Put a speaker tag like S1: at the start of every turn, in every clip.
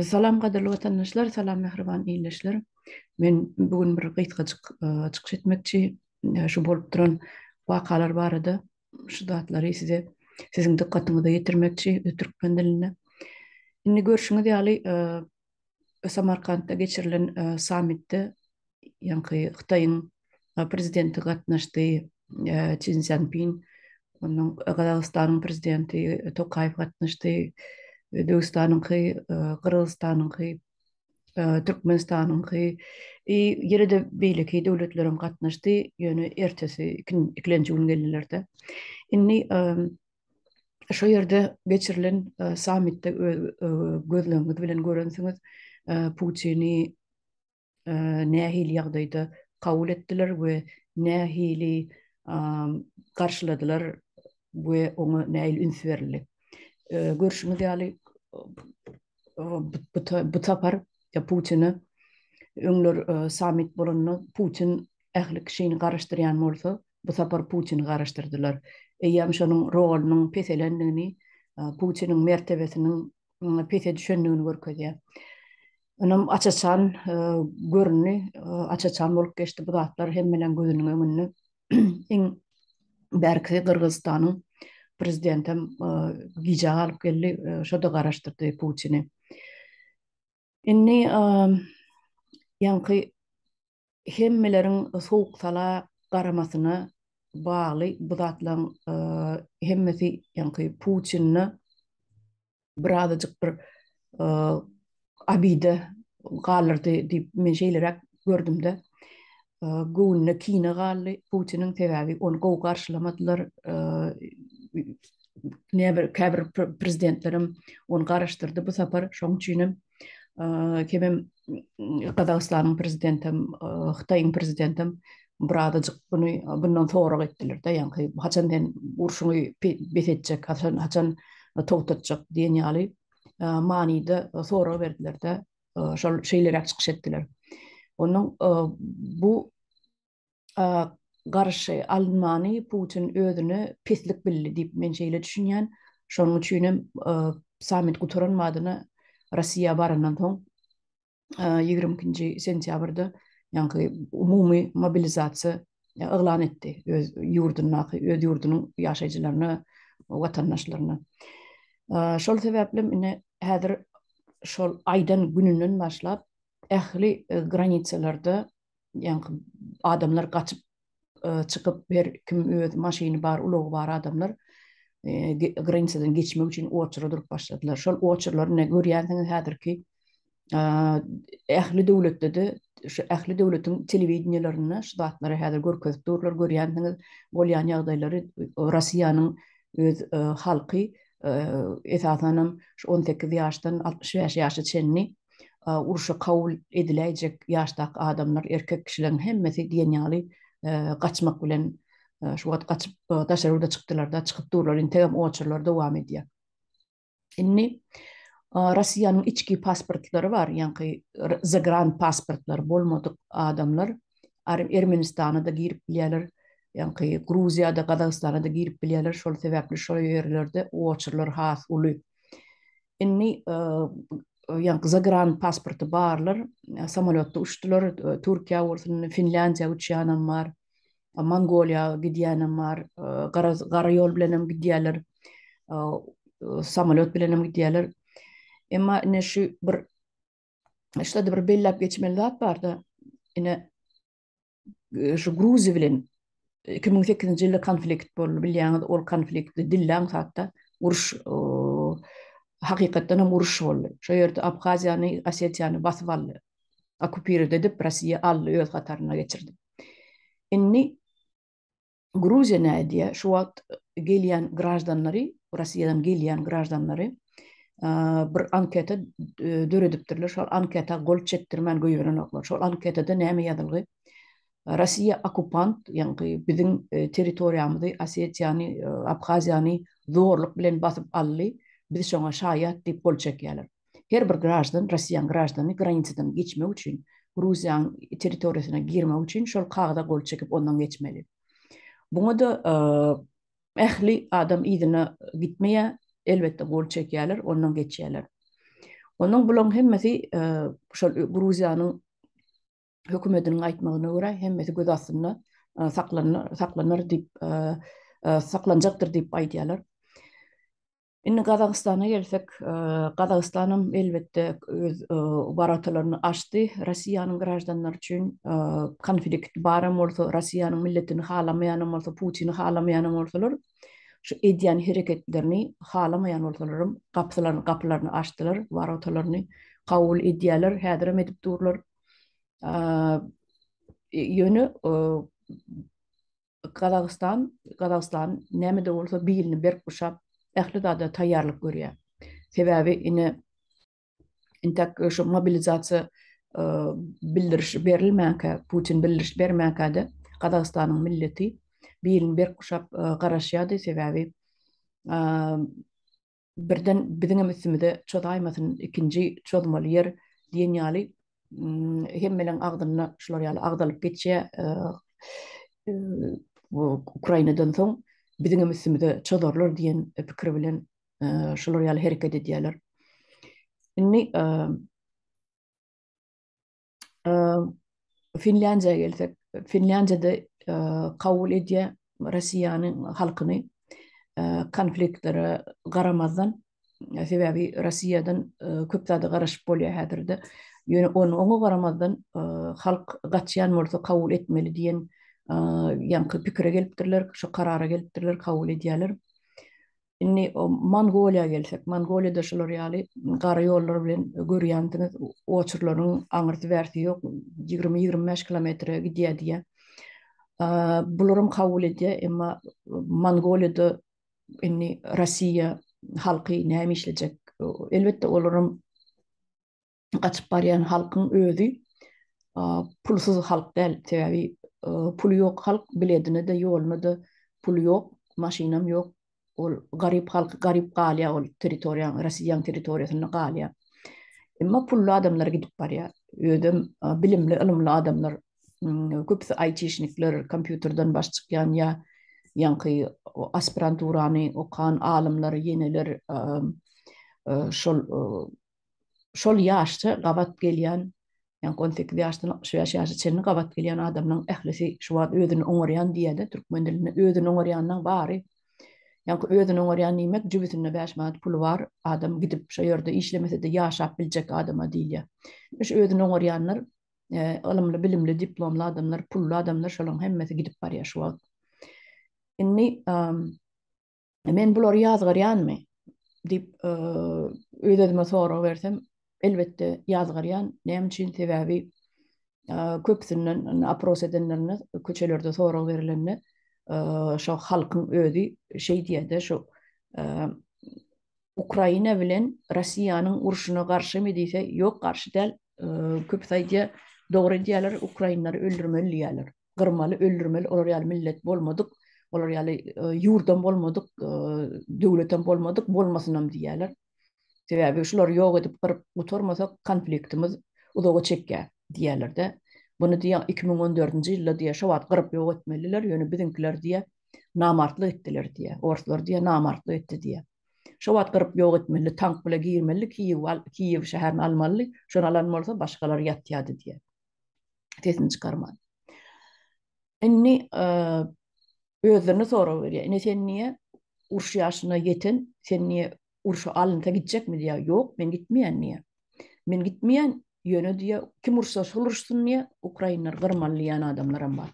S1: Salam gadyrly watandaşlar, salam mähriban ildeşler. Men bu gün bir gysgajyk çykyş etmekçi. Şu bolup duran wakalar barada şu zatlary size siziň dykgatyňyza ýetirmekçi türkmen dilinde. Indi görşüňiz ýaly Samarkantda geçirilen sammitde ýaňky Hytaýyň prezidenti gatnaşdy, Çin Sýanpin, onuň Gazagystanyň prezidenti Tokaýew gatnaşdy, Özbegistanyňky, Gyrgyzystanyňky, Türkmenistanyňky, ýene-de beýleki döwletleriň gatnaşdy, ýöne ertesi ikilenji gün geldiler-de. Indi Şu ýerde geçirilen e, sammitde e, gözleňiz bilen görensiňiz, e, Putini nähili ýagdaýda kabul etdiler we nähili garşyladylar we oňa nähili üns berildi. Görşüňiz ýaly bu tapar Putini öňler sammit bolanda Putin ähli kişini garaşdyrýan bolsa, Bu sapar Putini garaşdyrdylar. Eýýäm şonuň rolunyň peselendigini, Putiniň mertebesiniň pese düşendigini görkezýär. Onuň aç-açan göründi, aç-açan bolup geçdi bu zatlar hemmeleriň gözüniň öňünde. Iň bärkisi Gyrgyzystanyň prezidenti hem gijä galyp geldi, şo-da garaşdyrdy Putini. Indi ýaňky hemmeleriň sowuk-sala garamasyna bagly bu zatlaryň hemmesi ýaňky puçinini birazajyk bir abide galdyrdy diýip men şeýleräk gördüm-de, göwnüne kine galdy Putiniň, sebäbi ony gowy garşylamadylar, nebir käbir prezidentlerem ony garaşdyrdy bu sapar, şoň üçinem kemem Gazagystanyň prezidentem, Hytaýyň prezidentem birazajyk buny bundan sorag etdiler-de, ýaňky haçan sen urşuňy bes etjek, haçan togtatjak diýen ýaly manyda sorag berdiler-de, şol şeýleräk çykyş etdiler. Onuň bu garşy alynmany Putin özüne pislik bildi diýip men şeýle düşünýän. Şonuň üçin hem sammit gutaran badyna Russiýa barandan soň ýigrimi ikinji sentýabrda ýaňky umumy mobilizasiýa yglan etdi öz ýurdundaky öz ýurdunyň ýaşaýjylaryna watandaşlaryna şol sebäpli ine häzir şol aýdan gününden başlap ähli e, granisalarda ýaňky adamlar gaçyp e, çykyp her kim öz maşyny bar ulagy bar adamlar e, granisadan geçmek üçin oçura durup başladylar şol oçurlary ne görýänsiňiz häzirki ähli döwletde-de şu ähli döwletiň telewideniýelerinde şu zatlary häzir görkezip durlar, görýänsiňiz, bolýan ýagdaýlary Russiýanyň öz halky esasanam şu on sekiz ýaşdan altmyş bäş ýaşa çenli urşa kabul ediläýjek ýaşdaky adamlar, erkek kişileriň hemmesi diýen ýaly gaçmak bilen şu wagt gaçyp daşary ýurda çykdylar-da, çykyp durlar, integem oçurlar dowam edýär. Indi Russiýanyň içki pasportlary bar, ýaňky zagran pasportlary bolmadyk adamlar Ermenistana-da girip bilýärler, ýaňky Gruziýa-da, Gazagystana-da girip bilýärler, şol sebäpli şol ýerlerde oçurlar has uly. Indi ýaňky zagran pasporty barlar samolýotda uçdular, Türkiýä bolsun, Finlýandiýa uçýanam bar. Mongoliýa gidýänem bar, garaz gara ýol bilenem gidýärler, samalýot bilenem gidýärler. Emma ine şu bir şuda bir belläp geçmeli zat barda, ine şu Gruziýa bilen 2008-nji ýylda konflikt boldy, bilýäňiz, ol konflikt dilläň hakda uruş hakykatdanam uruş boldy. Şo ýerde Abhaziýany, Osetiýany basyp aldy. okupird edip, Rossiýa aldy, öz hataryna geçirdi. Indi Gruziýa näme edýär? Şu wagt gelýän graždanlary, Rossiýadan gelýän graždanlary bir anketa döredipdirler. Şol anketa gol çekdirmän goýberenoklar. Şol anketada näme ýazylgy? Rossiýa okupant, ýaňky biziň territoriýamyzy, Osetiýany, Abhaziýany zorluk bilen basyp aldy. Biz şoňa şaýat diýip gol çekýärler. Her bir graždan, rossiýan graždany granisadan geçmek üçin, Gruziýanyň territoriýasyna girmek üçin şol kagyza gol çekip ondan geçmeli. Muňa-da ähli adam yzyna gitmeýär, elbetde gol çekýärler, ondan geçýärler. Onuň bulaň hemmesi şol Gruziýanyň hökümetiniň aýtmagyna görä, hemmesi göz astynda saklanar, saklanar diýip, saklanjakdyr diýip aýdýarlar. Indi Gazagystana gelsek, Gazagistan hem elbetde öz worotalaryny açdy Rossiýanyň graždanlary üçin. Konflikt baram bolsa, Rossiýanyň milletini halamaýanam bolsa, Putini halamaýanam bolsalar, şu edýän hereketlerini halamaýan bolsalaram gapylaryny gapylaryny açdylar, worotalaryny kabul edýärler, häzirem edip durlar. Ýöne Gazagystan, Gazagystan näme-de bolsa bilini berk guşap, ähli zada taýýarlyk görýär. Sebäbi ine, intäk şu mobilizasiýa bildirişi berilmänkä, Putin bildiriş bermänkä-de Gazagystanyň milleti bilini berk guşap garaşýardy, sebäbi birden biziňem üstümize çozaýmasyn, ikinji çozmaly ýer diýen ýaly hemmeleň agzynda şular ýaly agzalyp geçýär. Ukrainadan soň biziňem üstümize çozarlar diýen pikir bilen şular ýaly hereket edýärler. Indi Finlandiýa gelsek, Finlandiýada kabul edýä Russiýanyň halkyny konfliktlere garamazdan, sebäbi Russiýadan köp zada garaşyp bolýar häzirde. Ýöne oňa garamazdan halk gaçýan bolsa kabul etmeli diýen ýaňky pikire gelipdirler, şu karara gelipdirler, kabul edýärler. Indi Mongoliýa gelsek, Mongoliýada şular ýaly gara ýollar bilen görýänsiňiz, oçurlaryň aňyrsy-bärsi ýok, ýigrimi-ýigrimi bäş kilometre gidýär diýýär. Bularam kabul edýär, emma Mongoliýada indi Russiýa halky näme işlejek? Elbetde, olaram gaçyp barýan halkyň özi pulsuz halk däl, sebäbi puly ýok halk biledine-de, ýoluna-da puly ýok, maşynam ýok, ol garyp halk garyp galýar ol territoriýaň, Rossiýaň territoriýasynda galýar. Emma pully adamlar gidip barýar, özem bilimli, ylymly adamlar, köpüsi aýtişnikler, kompýuterden baş çykýan ýa ýaňky aspiranturany okan alymlar, ýeneler şol şol ýaşça gabat gelýän, ýagny on sekiz ýaşdan altmyş bäş ýaşa çenli gabat gelýän adamlaryň ählisi şu wagt özüni oňarýan diýýärler türkmen dilinde. Özüni oňarýanynyň bary, ýagny özüni oňarýan diýmek, jübüsinde bäş manat puly bar adam gidip şo ýerde işlemese-de ýaşap biljek adama diýilýär. Şu özüni oňarýanlar ylymly, bilimli, diplomly adamlar, pully adamlar şolaryň hemmesi gidip barýar şu wagt. Indi Men bulary ýazgarýanmy? diýip, öz-özüme sorag bersem, elbetde ýazgarýan. Näme üçin? Sebäbi köpüsinden opros edenlerinde, köçelerde sorag berilende, şo halkyň özi şeý diýýär-de, şo Ukraina bilen Russiýanyň urşuna garşymy diýse, ýok, garşy däl, köpüsi aýdýar, dogry edýärler, ukrainleri öldürmeli diýýärler. Gyrmaly, öldürmeli, olar ýaly millet bolmadyk, olar ýaly ýurdam bolmadyk, döwletem bolmadyk, bolmasynam diýýärler. Sebäbi şulary ýok edip, gyryp gutarmasak, konfliktimiz uzaga çekýär diýýärler-de. Muny diýýär, iki müň on dördünji ýylda diýýär, şo wagt gyryp ýok etmelidiler, ýöne biziňkiler diýýär, namartlyk etdiler diýýär. Orslar diýýär, namartlyk etdi diýýär. Şo wagt gyryp ýok etmelidi, tank bile girmelidi, Kiýewi al, Kiýew şäherini almalydy, şony alan bolsa başgalar ýatýardy diýýär. Sesini çykarman. Indi özlerine sorag berýär. Ine sen niýe uruş ýaşyna ýeten, sen niýe urşa alynsa gitjekmi diýýär. Ýok, men gitmeýän diýýär. Men gitmeýän, Ýöne diýýä, kim ursa şol ursun diýýä, ukrainler gyrmaly diýýän adamlaram bar.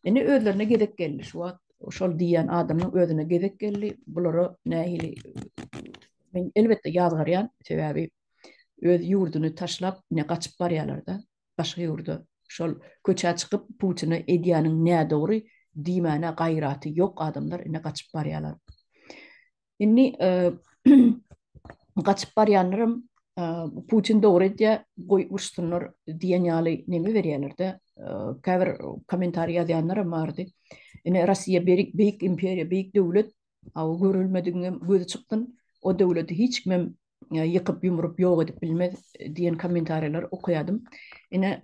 S1: Indi özlerine gezek geldi şu wagt. Şol diýýän adamyň özüne gezek geldi. Bulara nähili men elbetde ýazgarýan, sebäbi öz ýurduny taşlap ine gaçyp barýalarda başga ýurda. Şol köçä çykyp Putine edýäniň nädogry diýmäne gaýraty ýok adamlar ine gaçyp barýalar. Indi gaçyp barýanlaram Putin dogry edýär, goý uruşsynlar diýen ýaly neme berýärler-de, käbir kommentariý ýazýanlaram bardy. Ine, Russiýa beýik imperiýa, beýik döwlet, görülmedigiňem gözi çykgyn, o döwleti hiç kimem ýykyp ýumrup ýok edip bilmez diýen kommentariýalar okaýadym. Ine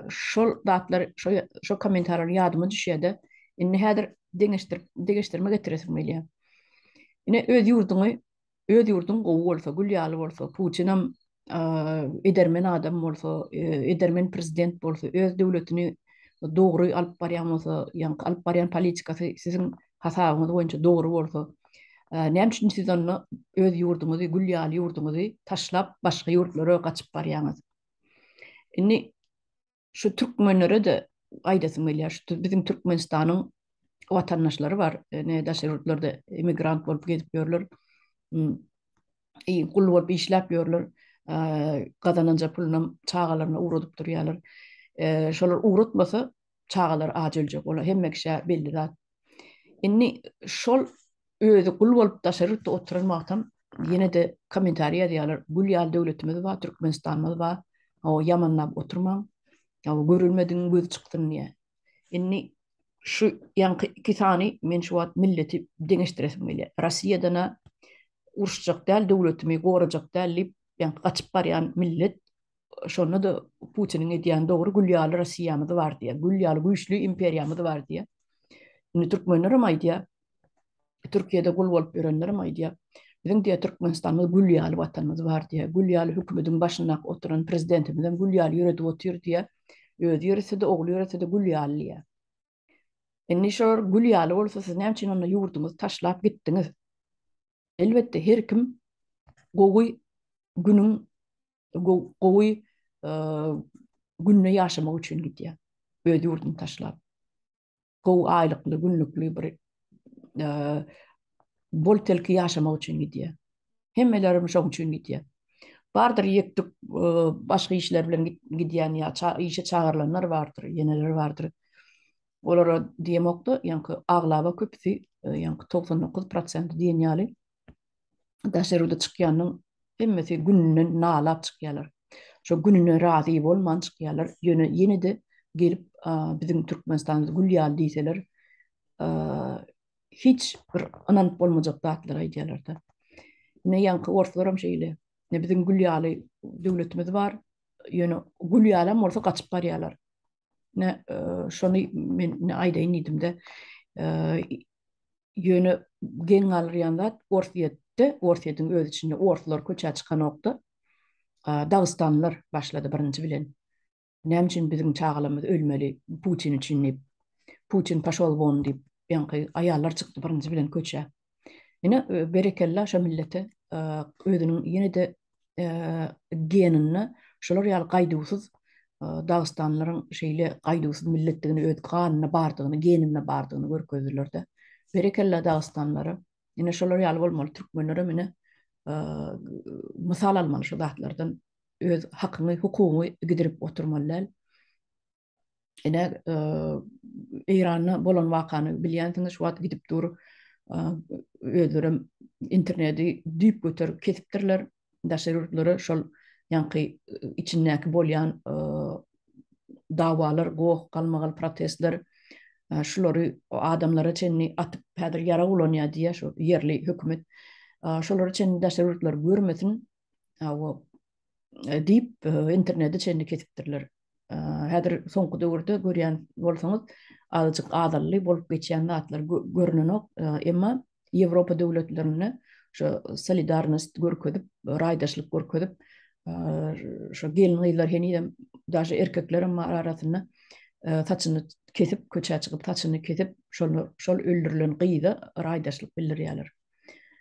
S1: şol zatlar şo şo kommentariýalar ýadyma düşýärdi. Indi häzir deňeşdirip degeşdirme getiresim gelýär. Ine öz ýurduňy öz ýurduň gowy bolsa, gül ýaly bolsa, Putinam edermen adam bolsa, edermen prezident bolsa, öz döwletini dogry alyp barýan bolsa, ýa alyp barýan politikasy siziň hasabyňyz boýunça dogry bolsa, näme üçin siz onda öz ýurduňyzy, gül ýaly ýurduňyzy taşlap, başga ýurtlara gaçyp barýaňyz? Indi şu türkmenlere-de aýdasym gelýär, şu biziň Türkmenistanyň watandaşlary bar, ine, daşary ýurtlarda emigrant bolup gezip ýörler, gul bolup işläp ýörler, gazananja pulunam çagalaryna ugradyp durýarlar. Şolar ugratmasa, çagalar aç öljek, olar hemme kişä belli zat. Indi şol özi gul bolup daşary ýurtda oturan wagtam ýene-de kommentariýa ýazýarlar, gul ýaly döwletimiz bar, Türkmenistanymyz bar, hawa ýamanlap oturmaň, hawa görülmedigiň gözi çyksyn diýýär. Indi şu ýaňky iki sany men şu wagt milleti deňeşdiresim gelýär. Rossiýadan-a uruşjak däl, döwletimi gorajak däl diýip, ýaňky gaçyp barýan millet Şonda-da Putiniň edýäni dogry, gül ýaly Rossiýamyz bar diýýär, gül ýaly güýçli imperiýamyz bar diýýär. Indi türkmenler hem aýdýar, Türkiýede gul bolup ýörenler hem aýdýar, biziň diýýär Türkmenistanymyz gül ýaly watanymyz bar diýýär, gül ýaly hökümediň başyndaky oturan prezidentimiz hem gül ýaly ýöredip otyr diýýär, özi ýörese-de, ogly ýörese-de gül ýaly diýýär. Indi şor gül ýaly bolsa siz näme üçin onda ýurduňyzy taşlap gitdiňiz? Elbetde her kim gowy günüň gowy günde ýaşamak üçin gidýär. Öz ýurduny taşlap. Gowy aýlykly, günlükli bir bol telki ýaşamak üçin gidýär. Hemmelerimiz şoň üçin gidýär. Bardyr ýetdik başga işler bilen gidýän ýa işe çagyrylanlar bardyr, ýeneler bardyr. Olara diýemokda, ýaňky aglaba köpüsi, ýaňky 99% diýen ýaly daşary ýurda çykýanyň hemmesi gününden nalap çykýarlar. Şo gününe razy bolman çykýarlar. Ýöne ýene-de gelip biziň Türkmenistanymyz gül ýaly diýseler, hiç bir ynanyp bolmajak zatlary aýdýarlar-da. Ine ýaňky orslar hem şeýle. Ine biziň gül ýaly döwletimiz bar. Ýöne gül ýalam bolsa gaçyp barýarlar. Ne e, şony men ne aýdaýyn diýdimde, e, ýöne geň galýan zat Orsýetde, Orsýetiň öz içinde orslar köçä çykanokda, dagystanlylar başlady birinji bilen. Näme üçin biziň çagalarymyz ölmeli Putin üçin diýip. Putin paşol won diýip, ýaňky aýallar çykdy birinji bilen köçä. Ine berekella şo millete özüniň ýene-de geninde şolar ýaly gaýduwsyz dagystanlylaryň şeýle gaýduwsyz milletdigini öz ganynda bardygyny, geninde bardygyny görkezdiler-de. Berekella dagystanlylara. Ine şolar ýaly bolmaly türkmenler hem ine mysal almaly şu zatlardan. Öz hakyňy, hukugyňy gidirip oturmaly däl. Ine Eýranda bolan wakany bilýänsiňiz, şu wagt gidip dur özleri interneti düýp göter kesipdirler. Daşary ýurtlara şol ýaňky içindäki bolýan dawalar, goh, galmagal protestler şulary adamlara çenli atyp häzir ýarag ulanýar diýýär şu ýerli hökümet. Şolary çenli daşary ýurtlar görmesin. Awa diýip interneti çenli kesipdirler. Häzir soňky döwürde görýän bolsaňyz, azajyk azally bolup geçýän zatlar görnenok, emma Ýewropa döwletlerinde şu solidarnost görkezip, raýdaşlyk görkezip, şu gelin-gyzlar henizem daşy erkeklerem bar arasynda saçyny kesip, köçä çykyp, saçyny kesip, şol öldürilen gyza raýdaşlyk bildirýärler.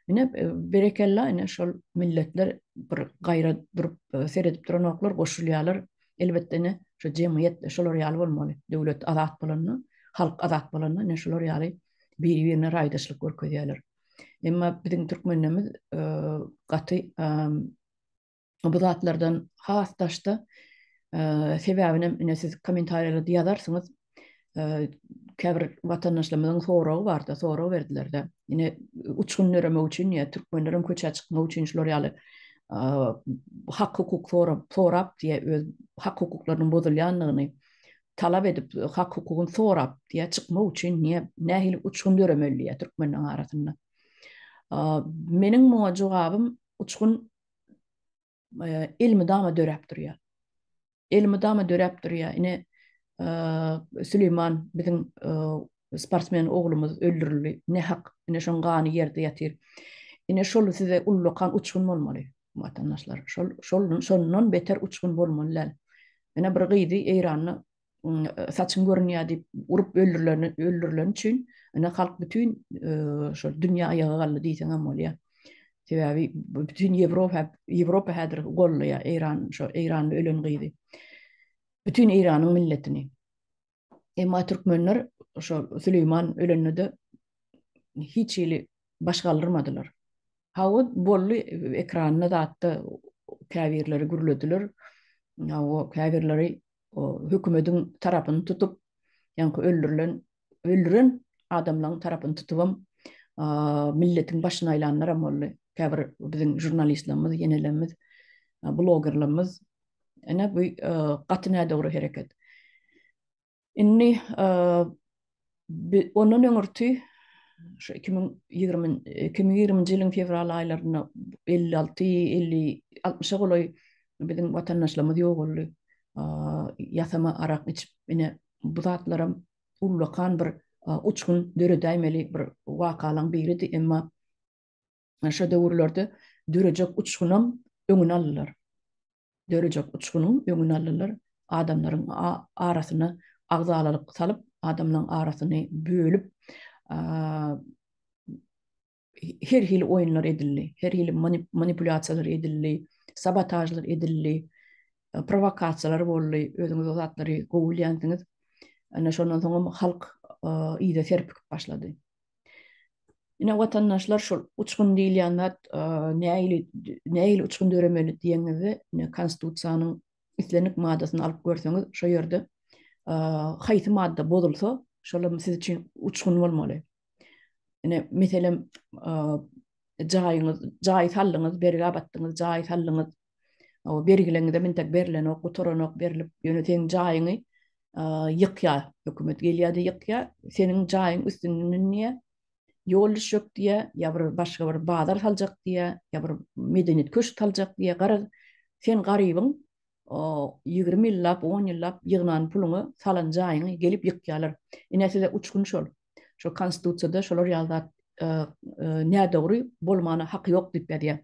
S1: Ine berekella ine şol milletler bir gaýra durup seredip duranoklar goşulýarlar. Elbetde ine şu jemgyýet şolar ýaly bolmaly. Döwlet azat bolanda, halk azat bolanda ine şolar ýaly biri-birine raýdaşlyk görkezýärler. Emma biziň türkmenlerimiz gaty bu zatlardan has daşda sebäbinem ine siz kommentariýalarda ýazarsyňyz käbir watandaşlarymyzyň soragy bardy sorag berdilerde ine uçgun döremek üçin ýa türkmenleriň köçä çykmak üçin şular ýaly hak hukuk sorap sorap diýe öz hak hukuklarynyň bozulýandygyny talap edip hak hukugyny sorap diýe çykmak üçin niýe nähili uçgun döremeli diýe türkmenleriň arasynda meniň muňa jogabym uçgun elmydama döräp durýar. Elmydama döräp durýar. Ine Süleyman biziň sportsmen oglumyz öldürildi. Ne hak, ine şoň gany ýerde ýatyr. Ine şol size ullakan uçgun bolmaly. Watandaşlar, şol şol şondan beter uçgun bolmaly däl. Ine bir gyzy Eýranda saçyň görünýär diýip urup öldürilen öldürilen üçin ine halk bütün şu dünýä aýaga galdy diýseň hem bolýar. Sebäbi bütün Ýewropa Ýewropa häzir gollaýar Eýran şu Eýranda ölen gyzy. Bütün Eýranyň milletini. Emma türkmenler şu Süleýman ölende hiç ýeli baş galdyrmadylar. Hawa bolly ekranda zatda käbirleri gürlediler. Hawa käbirleri o hökümediň tarapyny tutup, ýaňky öldürilen, öldüren adamlaň tarapyny tutubam, milletiň başyny aýlanlaram boldy. Käbir biziň žurnalistlerimiz, ýenelerimiz, blogerlerimiz. Ine bu gaty nädogry hereket. Indi ondan öňürti şu iki müň ýigrimi iki müň ýigriminji ýylyň fewral aýlarynda elli alty elli altmyşa golaý biziň watandaşlarymyz ýogaldy ýasama arak içip ine bu zatlaram ullakan bir uçgun döredäýmeli bir wakalaň biridi emma Şo döwürlerde dörejek uçgunam öňüni aldylar. Dörejek uçgunyň öňüni aldylar. Adamlaryň arasyna agzalalyk salyp, adamlaryň arasyny bölüp, her hili oýunlar edildi. Her hili manipulýasiýalar edildi, sabotažlar edildi, prowokasiýalar boldy. Özüňiz o zatlary gowy bilýänsiňiz. Ana şondan soňam halk yza serpikip başlady. Ine watandaşlar şul uçgun diýilýän zat näili näili uçgun döremeli diýeniňizde ine konstitusiýanyň islendik maddasyny alyp görseňiz şo ýerde haýsy madda bozulsa şolam siz üçin uçgun bolmaly. Ine meselem jaýyňyz jaý sallyňyz bergä batdyňyz jaý sallyňyz O bergileňizem entek berlenok, gutaranok berlip, ýöne seň jaýyňy ýykýar. Hökümet gelýär-de ýykýar. Seniň jaýyň üstünden münýär. Ýol düşjek diýýär, ýa bir başga bir bazar saljak diýýär, ýa bir medeniýet köşgi saljak diýýär. Garaz, sen garybyň ýigrimi ýyllap, on ýyllap ýygnan puluňy, salan jaýyňy gelip ýykýarlar. Ine size uçgun şol. Şol konstitusiýada şolar ýaly zat nädogry bolmana haky ýok diýip ýazýar.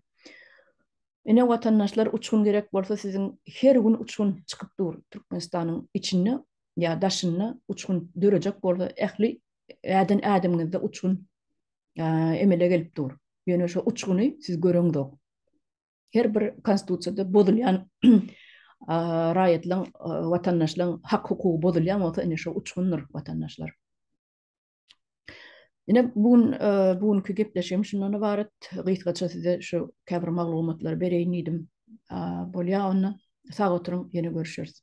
S1: Ine watandaşlar uçgun gerek bolsa siziň her gün uçgun çykyp dur Türkmenistanyň içinde ýa daşynda uçgun dörejek bolsa ähli äden ädimiňizde uçgun emele gelip dur. Ýöne şo uçguny siz göreňzok. her bir konstitusiýada bozulýan raýatlaryň, watandaşlaryň hak-hukugy bozulýan bolsa, ine şo uçgundyr, watandaşlar. Ine bu gün, bu günki gepleşigim şundan ybarat. Gysgaça size şu käbir maglumatlary bereýin diýdim. Bolýar onda. Sag oturyň, ýene görüşeris.